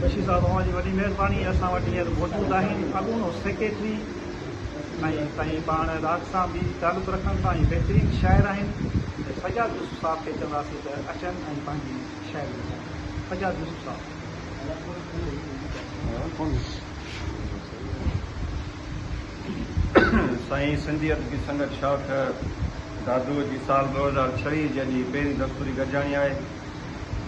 بشير صاحب اوهان جي وڏي مهرباني اسان وٽ هينئر موجود آهن اڳوڻو سيڪريٽري ۽ سائين پاڻ راڳ سان به تعلق رکن ٿا ۽ بهترين شاعر آهن ته سجاد يوسف صاحب کي چونداسين ته اچن ۽ پنهنجي شاعري ٻڌائين سجاد يوسف صاحب. سائين سنڌي ادبي سنگت شاخ دادوء جي سال ڏو هزار ڇويهه جي اڄ هي پهرين دستوري گڏجاڻي آهي.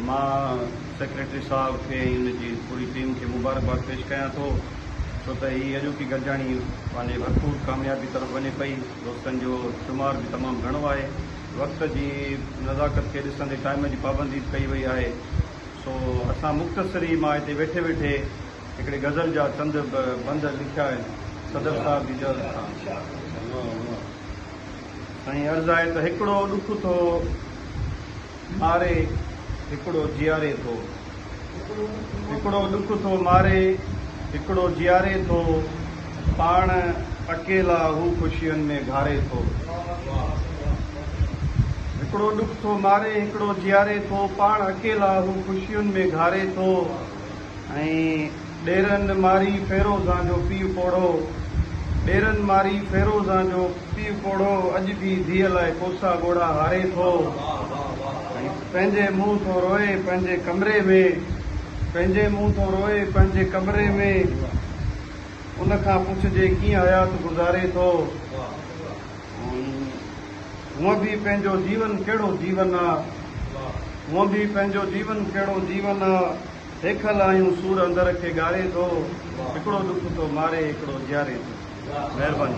مان سيڪريٽري صاحب کي ۽ ان جي پوري ٽيم کي مبارڪباد پيش ڪيان ٿو ڇو ته هي اڄوڪي گڏجاڻي پنهنجي ڀرپور ڪاميابي طرف وڃي پئي دوستن جو شمار به تمام گهڻو آهي وقت جي نزاڪت کي ڏسندي ٽائيم جي پابندي به ڪئي وئي آهي سو اسان مختصري مان هتي ويٺي ويٺي هڪڙي غزل جا چند بند لکيا آهن صدر صاحب جي جهاز سان سائين عرض آهي ته هڪڙو ڏک ٿو ماري هڪڙو جياري ٿو. هڪڙو ڏک ٿو ماري هڪڙو جياري ٿو. پاڻ اڪيلا هو خوشين ۾ گهاري ٿو. هڪڙو ڏک ٿو ماري هڪڙو جياري ٿو. پاڻ اڪيلا هو خوشين ۾ گهاري ٿو. ۽ ڏيرن ماري فيروزان جو پيء پوڙهو ڏيرن ماري فيروزان جو پيء پوڙهو اڄ به ڌيء لاء ڪوسا ڳوڙها هاري ٿو ۽ پنهنجي منهن ٿو روئي پنهنجي ڪمري ۾ پنهنجي منهن ٿو روئي پنهنجي ڪمري ۾ ان کان پڇجي ڪيئن حيات گذاري ٿو هونء به پنهنجو جيون ڪهڙو جيون آ هونء به پنهنجو جيون ڪهڙو جيون آ. هيکل آهيون سور اندر کي ڳاري ٿو هڪڙو ڏک ٿو ماري هڪڙو جياري ٿو مهرباني.